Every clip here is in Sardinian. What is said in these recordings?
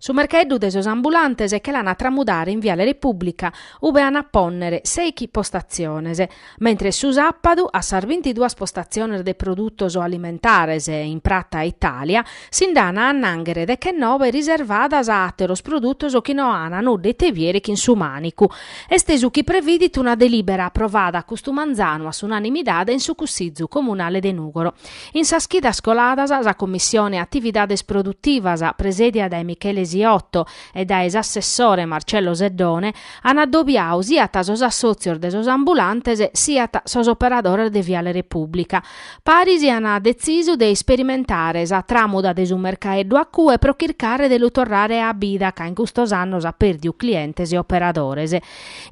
Su mercheddu de sos ambulantes che l'an a tramudare in Viale Repubblica, ube an a pònnere seichi postatziones, mentre su sàpadu a sas bintiduas postatziones de produtos alimentares in prata Itàlia si nd'an a annànghere dechennobe riservadas a àteros produtos chi no an a nudda ite biere chin su mànicu, est su chi previdit una delìbera aprovada custu manzanu a s'unanimidade in su Cussizu Comunale de Nùgoro. In sas chidas coladas sa Commissione Atividades Produtivas, presèdida dae Michele Siotto e dae s'assessore Marcello Seddone, an adobiau siat sos assòtzios de sos ambulantes siat sos operadores de Viale Repùblica. Paris an detzisu de isperimentare sa tràmuda de su mercaeddu a cue pro chircare de lu torrare a bida ca in custos annos at pèrdiu clientes e operadores.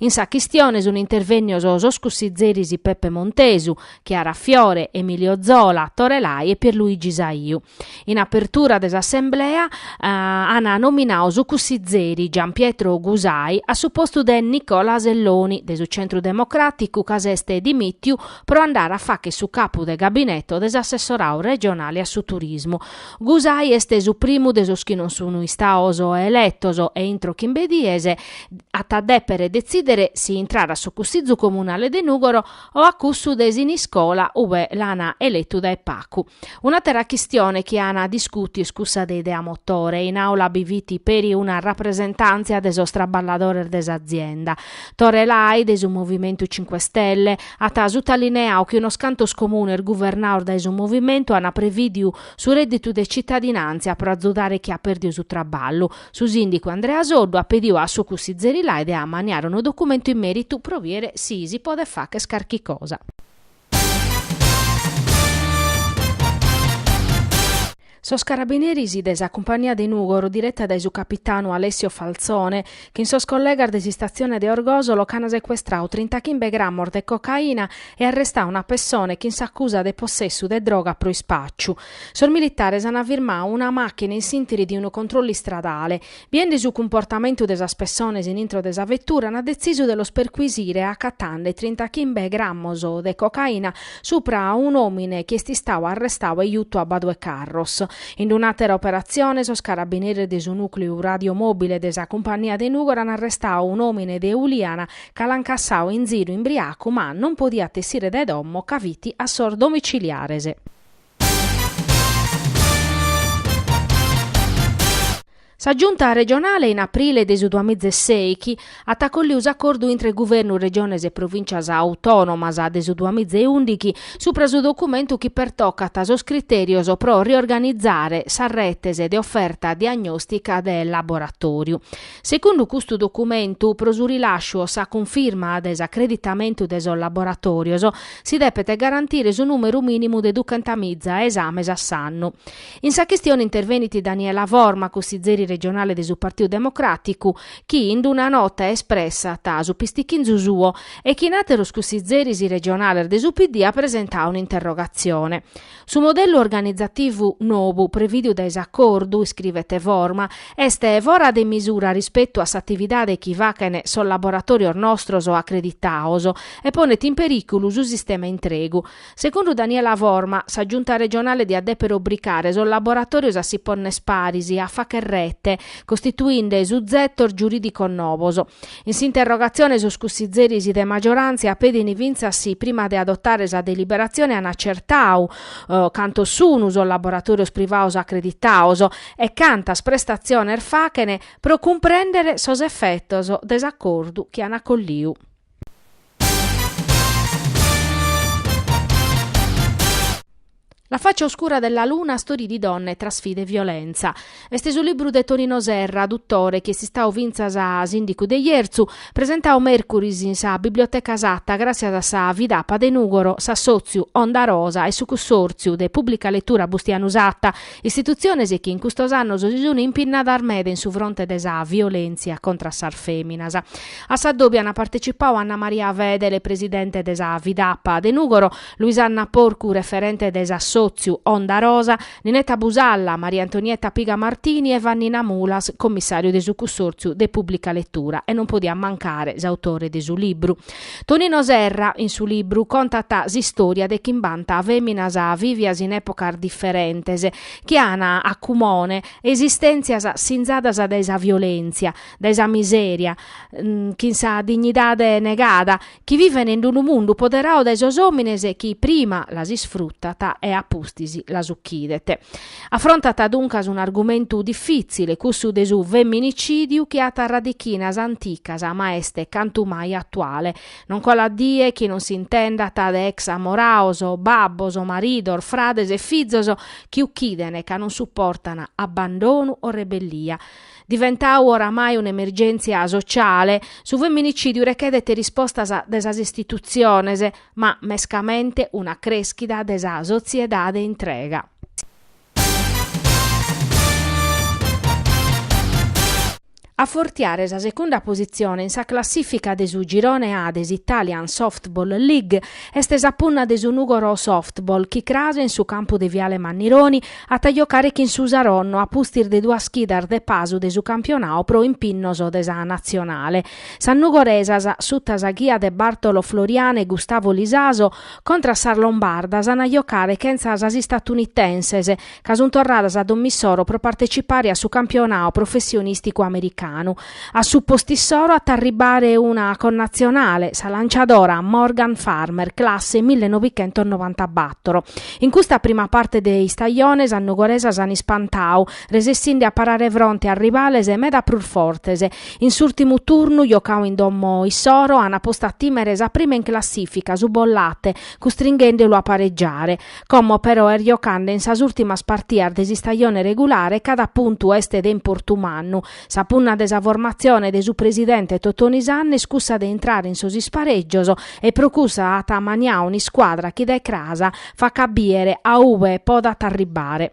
In sa chistione sunt intervènnios sos cussitzeris Peppe Montesu, Chiara Fiore, Emilio Zola, Torelai e Pierluigi Saiu. In apertura de s'assemblea an nominau su cussizeri Gian Pietro Gusai a su postu de Nicola Selloni de su Centru Democràticu ca s'est dimìtiu pro andare a fàchere su capu de gabineto de s'assessorau regionale a su turismu. Gusai est su primu de sos chi non sun istaos eletos e intro chimbe dies at a dèpere detzìdere si intrare a su Cussizu Comunale de Nùgoro o a cussu de Siniscola ue l'an eletu dae pacu. Un'atera chistione chi an discutiu est cussa de Idea Motore, in aula bi fit peri una rapresentantzia de sos traballadores de s'azienda, Tore Lai de su movimentu Cinque Stelle, at sutalineau chi unos cantos comunes guvernaos dae su movimentu an previdiu su redditu de cittadinantzia pro azudare chi at perdiu su traballu, Su sìndicu Andrea Soddu at pediu a su cussizeri Lai de ammaniare unu documentu in mèritu pro biere si si podet facher carchi cosa. Sos carabineris de sa cumpania de Nùgoro, direta dae su capitanu Alessio Falzone, chin sos collegas de s'istatzione de Orgosolo ch'an secuestrau trintachimbe grammos de cocaina e arrestau una pessone chin s'acusa de possessu de droga pro ispàciu, Sos militares an firmau una màchina in s'ìntiri de unu controllu istradale. Biende su cumportamentu de sas pessones in intro de sa vetura an detzisu de los perquisire acatande trintachimbe grammos de cocaina supra un'òmine chi est istau arrestau e jutu a Badu 'e Carros. In un'àtera operatzione sos carabineres de su nùcleu radiomòbile de sa cumpania de Nùgoro an arrestau un'òmine de Uliana ca l'an cassau in ziru imbriacu ma non podiat essire de domo ca fit a sos domiciliares. Sa Giunta regionale in aprile de su duamiza e sèighi at acolliu s'acordu intre Guvernu, Regiones e Provìncias Autònomas de su duamiza e ùndichi supra su documentu chi pertocat sos critèrios pro riorganizare sas retes de oferta diagnòstica de laboratòriu. Segundu custu documentu, pro su rilasciu o sa cunfirma de s'acreditamentu de sos laboratòrios, si depet garantire su nùmeru mìnimu de ducentamiza esames a s'annu. In sa chistione intervenit Daniela Forma, cussizeri regionale de su Partidu Democràticu, chi in una nota espressat su pistichinzu suo e chin àteros cussizeris regionales de su PD at presentau un'interrogatzione. Su modellu organizativu nobu prevìdiu dae s'acordu, iscrivet Forma, est fora de misura rispetu a s'atividade chi fachen sos laboratòrios nostros acreditaos e ponet in perìculu su sistema intregu. Segundu Daniela Forma, sa Giunta regionale diat dèpere obricare sos laboratòrios a si ponner paris e a fàcher rete, costituinde suzetos giurìdicos nobos. In s'interrogatzione sos cussizeris de maggioràntzia petin fintzas si prima de adotare sa deliberatzione an acertau cantos sun sos laboratòrios privados acreditaos e cantas prestatziones fachen pro cumprèndere sos efetos de s'acordu chi an acolliu. La faccia oscura della luna, storie di donne tra sfide e violenza. Est su libru de Tonino Serra, duttore, chi est istau fintzas a sìndicu de Jerzu, presentau mèrcuris in sa Biblioteca Satta gràtzias a sa Fidapa de Nùgoro, s'assòtziu Onda Rosa e su Cussòrtziu de Pùblica Letura Bustianu Satta, istitutziones chi in custos annos si sun impinnadas meda in su fronte de sa violèntzia contra sas fèminas. A s'addòbiu an partecipau Anna Maria Fedele, presidente de sa Fidapa de Nùgoro, Luisanna Porcu, referente de s'assòtziu Onda Rosa, Ninetta Busalla, Maria Antonietta Piga Martini e Vannina Mulas, commissàriu de su Cussòrtziu de Pùblica Letura e non podiat mancare s'autore de su libru. Tonino Serra, in su libru, contat s'istòria de chimbanta fèminas vìvias in èpocas diferentes, chi an a cumone esistèntzias sinzadas dae sa violèntzia, dae sa misèria, chin sa dignidade negada, chi viven in unu mundu poderau dae sos òmines chi prima las isfrutat e a pustis las ucchidet. Afrontat duncas un'argumentu difìtzile, cussu de su feminicidiu chi at radichinas anticas ma est cantu mai atuale. Non colat die chi non s'intendat de ex amoraos, babbos, maridos, frades e fizos chi uchidene ca non suportana abbandonu o rebellia. Diventau oramai un'emergèntzia sociale, su feminicidiu rechedhet rispostas de sas istitutziones, ma mescamente una creschida de sa sotziedade intrega. A fortiare sa segunda positzione in sa classìfica de su Girone A de s'Italian Softball League est sa punna de su Nugoro Softball chi cras in su campu de Viale Mannironi at a giocare chin su Saronno a pustis de duas chidas de pasu de su campionau pro impinnos de sa Natzionale. Sas nugoresas, suta sa ghia de Bartolo Florian e Gustavo Lisaso, contra a sas lombardas an a giocare chentza sas istatunitenses, ca sun torradas a domo issoro pro partecipare a su campionau professionìsticu americanu. A su postu issoro at a arribare una connatzionale, sa lanciadora Morgan Farmer, classe millenovichentosnovantabator. In custa prima parte de istajone sas nugoresas an ispantau, resessinde a parare fronte a rivales meda prus fortes. In s'ùrtimu turnu, jocau in domo issoro, ant postu a tìmere sa prima in classìfica, su Bollate, custringhendelu a paregiare. Como però est jocande in sas ùrtimas partidas de s'istajone regulare, cada puntu est de importu mannu, Sa punna de sa formatzione de su presidente Totoni Sanna est cussa de intrare in sos isparègios e pro cussa at amaniau un'iscuadra chi dae cras facat biere a ue podat arribare.